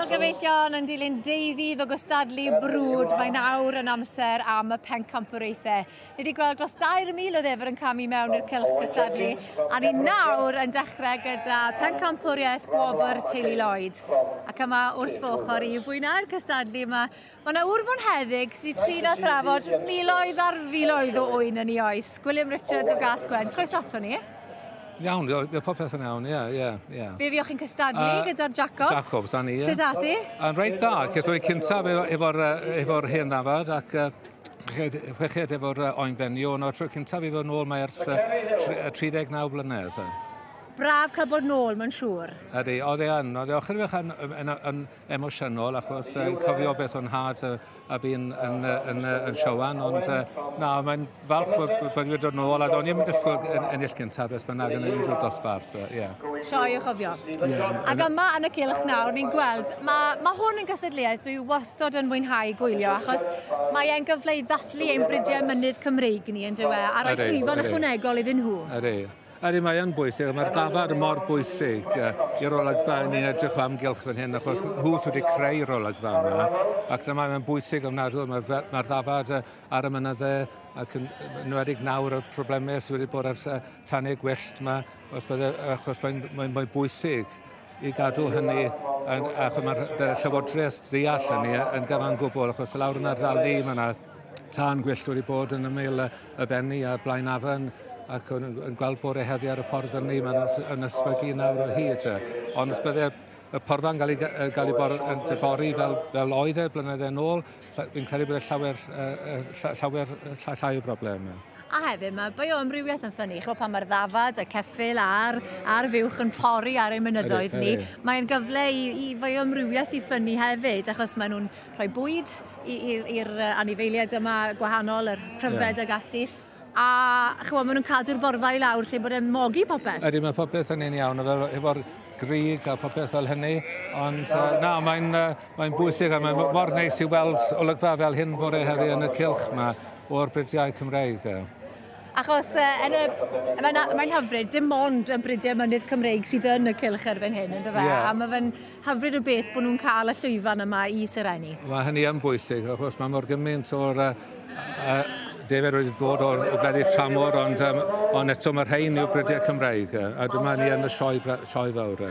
So... Gyfeillion yn dilyn deuddydd o gystadlu brwd, mae nawr yn amser am y pencampwriaethau. Ni wedi gweld dros 2,000 o ddefr yn camu mewn i'r cylch gystadlu, a ni nawr yn dechrau gyda pencampwriaeth gwobr Teulu Lloyd. Ac yma wrth fy ochr i fwynhau'r cystadlu yma Mae yna ŵr bonheddig sy'n trin a thrafod miloedd ar filoedd o ŵyn yn ei oes. Gwilym Richards o Gas Gwent, croeso ato ni. Iawn, mae popeth yn iawn, ie, ie, ie. Fe fi chi'n cystadlu uh, gyda'r Jacob. Jacob, da ni, ie. Sut ath i? Yn reit dda, cethw i cyntaf efo'r efo hen ddafad ac uh, chweched efo'r uh, oenfenio, ond o'r tro cyntaf i fod yn ôl mae ers uh, 39 flynedd. Braf cael bod nôl, mae'n siŵr. Ydy, oedd e yn. Oedd e ochr i fech yn, yn, yn, emosiynol achos uh, cofio beth o'n nhad uh, a fi'n yn, yn, yn, siowan, ond uh, na, mae'n falch bod, bod wedi dod yn ôl, a do'n i'n dysgwyl yn ennill gyntaf, beth bynnag yn unrhyw dosbarth. Uh, yeah. Sioi o chofio. Yeah. Ac yma yn y cilch nawr, ni'n gweld, mae ma hwn yn gysedliaeth, dwi wastod yn mwynhau gwylio, achos mae e'n gyfle i ddathlu ein bridiau mynydd Cymreig ni yn dywe, a rhoi llwyfan ychwanegol iddyn nhw. Ydy. Ydy, mae yn bwysig, mae'r dafarn yn mor bwysig i'r olygfa yn ni'n edrych o amgylch fan hyn, achos nhw sydd wedi creu'r olygfa yma, ac dyna mae'n bwysig ofnadw, mae'r mae ma ddafad ar y mynydde, ac yn enwedig nawr y problemau sydd wedi bod ar tanau gwyllt yma, os bydde, achos mae'n mae, mae bwysig i gadw hynny, yn, achos mae'r llywodraeth ddeall hynny yn gyfan gwbl, achos lawr yna'r rali mae yna Tân gwyllt wedi bod yn ymyl y benni a blaen afon ac yn, yn gweld bore heddi ar y ffordd fyny, mae'n yn ysbygu nawr o hyd. Ond os bydde y porfa'n cael ei, gael ei bor, yn bori fel, fel oedd e blynydde yn ôl, fi'n credu bod e llawer, uh, llawer llai o broblem. A hefyd mae bioamrywiaeth yn ffynnu, chwa pan mae'r ddafad, y ceffil a'r, ar fuwch yn pori ar ein mynyddoedd ni, mae'n gyfle i, i fioamrywiaeth i ffynnu hefyd, achos maen nhw'n rhoi bwyd i'r anifeiliaid yma gwahanol, yr pryfed yeah. ag ati. A chymod, maen nhw'n cadw'r borfa i lawr lle bod e'n mogi popeth. Ydy, mae popeth yn un iawn, efo'r grig a popeth fel hynny. Ond uh, na, mae'n uh, mae bwysig a mae'n mor neis i weld olygfa fel hyn fore heddi yn y cilch yma o'r bridiau Cymreig. Uh. Achos uh, yn y, mae'n, mae'n hyfryd, dim ond y bridiau mynydd Cymreig sydd yn y cilch erbyn hyn, ynddo fe? Yeah. A mae fe'n hyfryd o beth bod nhw'n cael y llwyfan yma i serennu. Mae hynny yn bwysig, achos mae mor gymaint o'r uh, uh, defer wedi bod o'r gwledydd i'r tramor, ond, um, ond eto mae'r rhain yw'r brydiau Cymraeg, a dyma ni yn y sioe, sioe fawr.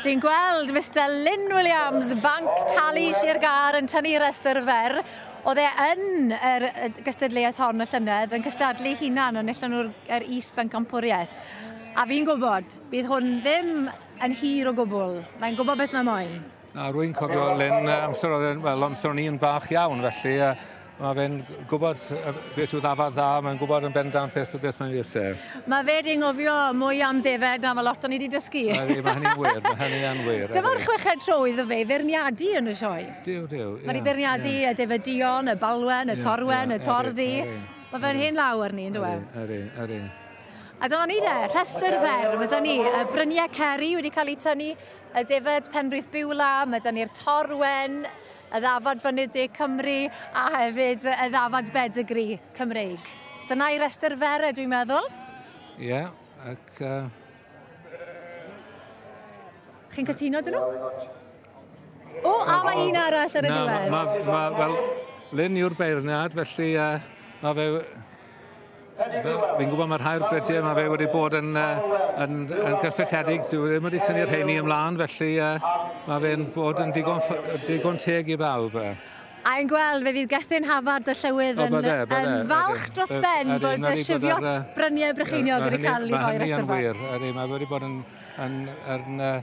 Dwi'n gweld Mr Lynn Williams, Banc Talu Sir Gar, yn tynnu rhestr fer. Oedd e yn yr gystadleuaeth hon y llynedd, yn cystadlu hunan, ond nillon nhw'r er is bencampwriaeth. A fi'n gwybod, bydd hwn ddim Yn hir o gwbl. Mae'n gwybod beth mae moyn. A rwy'n cofio Len amser oedd e'n, wel, amser o'n i'n fach iawn, felly uh, mae fe'n gwybod beth yw ddafad dda, mae'n gwybod yn bendant beth, beth mae'n fes e. Mae fe di'n ngofio mwy am ddefed na mae lot o'n i wedi dysgu. Mae hynny'n wir, mae hynny'n wir. Dyma'r chweched tro iddo fe feirniadu yn y sioe. Diw, diw. Mae wedi beirniadu y defedion, y balwen, y torwen, y torddi. Mae fe'n hen lawr ni, yn dweud. Ydy, ydy. A dyma ni de, rhestr fer. Mae da ni y bryniau ceri wedi cael eu tynnu, y defyd Penrith Biwla, mae da ni'r Torwen, y ddafad Fynedig Cymru, a hefyd y ddafad Bedigri Cymreig. Dyna i restr fer, e, dwi'n meddwl. Ie, yeah, ac... Uh... Chi'n cytuno dyn nhw? O, a mae un arall ar y diwedd. Na, mae, ma, ma, wel, Lynn yw'r beirniad, felly uh, mae fe Fel, fi'n gwybod mae rhai'r brydiau mae fe wedi bod yn, uh, yn, yn gysylltiedig, dwi e ddim wedi tynnu'r rheini ymlaen, felly uh, mae fe'n fod yn digon, digon teg i bawb. Uh. A i'n gweld fe fydd Gethin Hafard y Llywydd yn, bydde, bydde, yn falch dros ben bod y sifiot bryniau brycheiniog wedi cael ei rhoi ar y Mae hynny'n wir, mae wedi bod yn, yn, yn, yn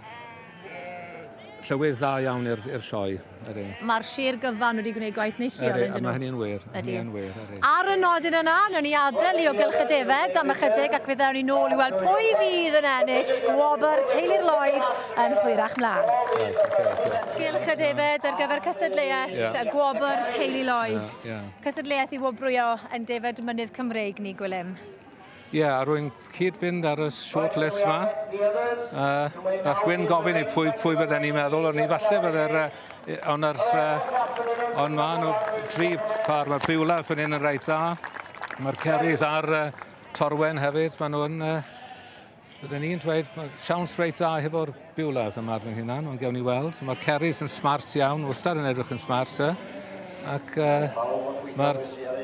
Llywydd dda iawn i'r i'r sioe. Ydy. Mae'r sir gyfan wedi gwneud gwaith neithiol Ydy, ydyn nhw. Mae hynny'n wir. Ydy. Hynny'n wir. Ydy. Ar y nodyn yna, newn ni adael i o gylch y defed am ychydig ac fe ddewn ni nôl i weld pwy fydd yn ennill gwobr Teulu'r Lloyd yn hwyrach mlaen. Right, okay, Gylch y defed ar gyfer cysadleuaeth yeah. y gwobr Teulu Lloyd. Yeah, yeah. Cysadleuaeth i wobrwyo yn defed mynydd Cymreig ni, Gwilym. Ie, yeah, rwy'n cyd-fynd ar y short list yma. Uh, nath Gwyn gofyn i pwy, pwy bydden ni'n meddwl, ond ni falle bydde'r... Uh, ond yr... Uh, ond ma nhw tri par, mae'r Biwlas fan hyn yn rhaid dda. Mae'r Cerrys a'r uh, Torwen hefyd, maen nhw'n... Uh, Bydden ni'n dweud mae siawns reit dda hefo'r Biwlas am arno hunan, ond gewn ni weld. Mae'r Ceris yn smart iawn, wastad yn edrych yn smart. Eh? Ac uh, mae'r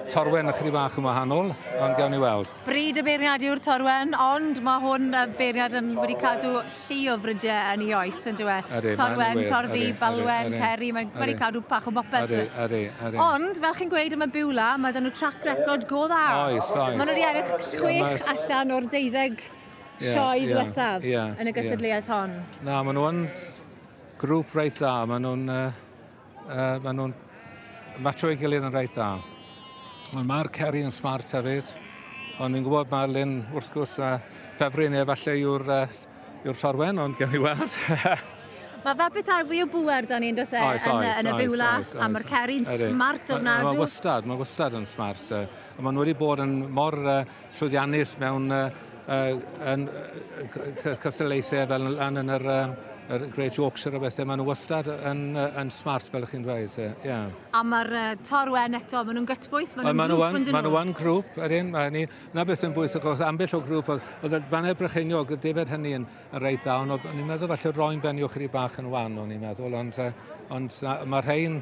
Torwen a chri fach yn wahanol, ond gewn ni weld. Bryd y beirniad yw'r Torwen, ond mae hwn y beirniad yn wedi cadw llu o frydiau yn ei oes, yn dweud. Torwen, torddi, balwen, ceri, mae'n wedi cadw pach o bopeth. Ydy, ydy. Ond, fel chi'n gweud am y Beulah, mae 'da nhw track record go dda. Oes, oes. Maen nhw wedi ennill chwech allan o'r deuddeg sioe ddiwethaf yn y gystadleuaeth hon. Na, maen nhw yn grŵp reit dda. Maen nhw'n maen nhw'n matcho ei gilydd yn reit dda. Ond mae'r Ceri yn smart hefyd. Ond ni'n gwybod mae Lynn, wrth gwrs, a ffefryn ni efallai yw'r Yw'r ffordd wen, ond gawn ni weld. Mae fe bethau fwy o bŵer da ni, dos e, oes, yn, oes, yn y biwla, a mae'r ceri'n smart o'n nadw. Mae wastad, mae wastad yn smart. Uh, a maen nhw wedi bod yn mor uh, llwyddiannus mewn uh, uh, yn, uh, cystadlaethau fel yn, yn yr... Uh, yr Great Yorkshire a bethau, maen nhw wastad yn, yn smart fel ych chi'n dweud. Yeah. A mae'r uh, torwen eto, maen nhw'n gytbwys, maen nhw'n grŵp yn dyn nhw. Maen nhw'n grŵp, ydyn, maen nhw 'Na beth sy'n bwysig, os ambell o grŵp, oedd y Baned Brycheiniog, y defaid hynny yn, yn reit dda, ond o'n i'n meddwl falle roi'n ben i'w chri bach yn wan, o'n i'n meddwl, ond, ond mae rhain,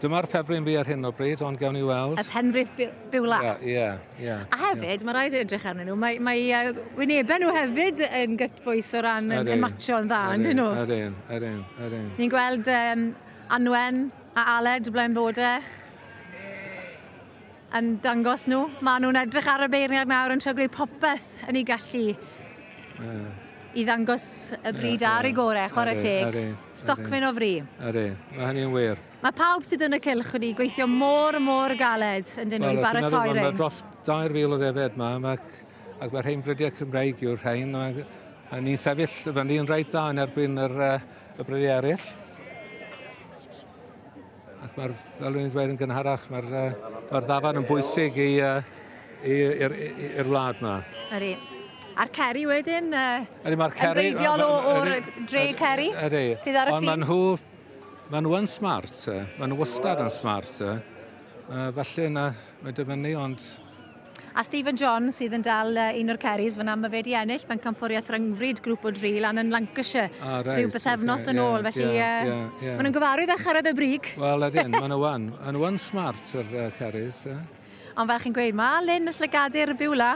dyma'r ffefryn fi ar hyn o bryd, ond gawn ni weld. Y penrith biwla. Ie, yeah, ie. Yeah, yeah, a hefyd, yeah. mae rhaid edrych arnyn nhw, mae, mae uh, wynebau nhw hefyd yn gytbwys o ran yn, yn matcho'n dda, yn dyn nhw? Yr un, yr un, yr un. Ni'n gweld um, Anwen a Aled, blaen bod e. yn dangos nhw. Maen nhw'n edrych ar y beirniad nawr yn trio gwneud popeth yn ei gallu uh. i ddangos y bryd uh, ar ei gorau, chwarae teg. Stocfyn o fri. Ydy, mae hynny'n wir. Mae pawb sydd yn y cylch wedi gweithio mor, mor galed yn dyn nhw i baratoi rhain. Mae dros 2,000 o ddefed yma, ac mae'r rhain brydiau Cymraeg yw'r rhain. A ni'n sefyll fyny yn rhaid dda yn erbyn yr, uh, y brydiau eraill. Ac mae'r, fel rwy'n dweud yn gynharach, mae'r uh, mae ddafan yn bwysig i, uh, i'r wlad yma. Ydy. A'r Ceri wedyn, uh, ydy, mae'r Ceri, yn reiddiol o'r dre Ceri, ydy, sydd ar y ffin. Ond maen nhw, maen nhw yn smart, maen nhw wastad yn smart. Uh, falle na, mae dibynnu, ond A Stephen John sydd yn dal uh, un o'r Kerrys fyna, mae fe wedi ennill pencampwriaeth rhyngfryd grŵp o dri lan yn Lancashire ah, right, rhyw bythefnos okay, yn yeah, ôl, felly yeah, uh, yeah, yeah. maen nhw'n gyfarwydd â charad y brig. Wel, ydyn, maen nhw wan. Maen nhw wan smart, yr uh, Kerrys. Eh? Ond fel chi'n gweud, mae Lynn y llygadur y byw la.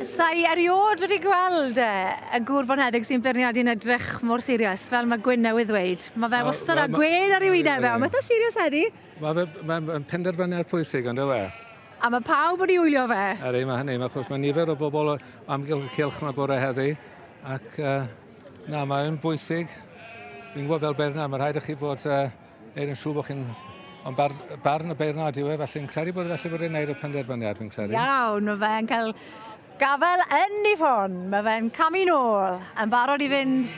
Sa'i eriod wedi gweld e, y gŵr fo'n hedig sy'n beirniadu'n edrych mor sirius, fel mae Gwyn newydd ddweud. Mae fe wastad â gwên ar ei wyneb fe, ond mae'n sirius heddi. Mae fe, mae'n ma penderfyniad pwysig, ond yw e? A mae pawb wedi wylio fe? Er ei mae hynny, mae, chos mae nifer o bobl o amgylch y cilch yma bore heddi, ac uh, na, mae'n bwysig. Fi'n gwybod fel Bernard, mae rhaid i chi fod uh, neud yn siŵr bod chi'n Ond bar, barn y beirnod yw e, felly fi'n credu bod felly bod e'n neud y penderfyniad, fi'n credu. Iawn, mae fe'n cael gafel yn ei ffon. Mae fe'n camu nôl, yn barod i fynd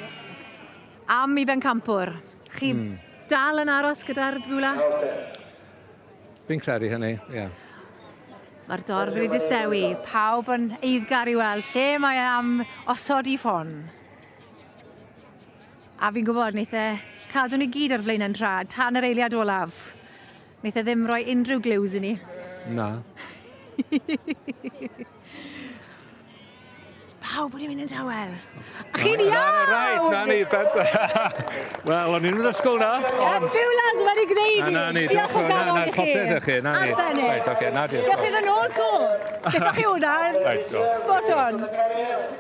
Am i Bencampwr. Chi mm. dal yn aros gyda'r bwla? Fi'n credu hynny, ie. Yeah. Mae'r dorf wedi distewi, pawb yn eiddgar i weld lle mae am osod i ffon. A fi'n gwybod, wneud e cadw ni gyd ar flaenau'n trad, tan yr eiliad olaf. Neith e ddim rhoi unrhyw glues i ni. Na. Pawb wedi mynd yn tawel. A chi'n iawn! Right, na ni, Wel, o'n i'n mynd ysgol na. Ond... Byw las wedi gwneud i. Na, na ni, diolch yn fawr. Na, popeth i chi. Na ni. Right, okay, na diolch. Diolch iddyn nhw'n to. Beth o'ch chi hwnna? Spot on.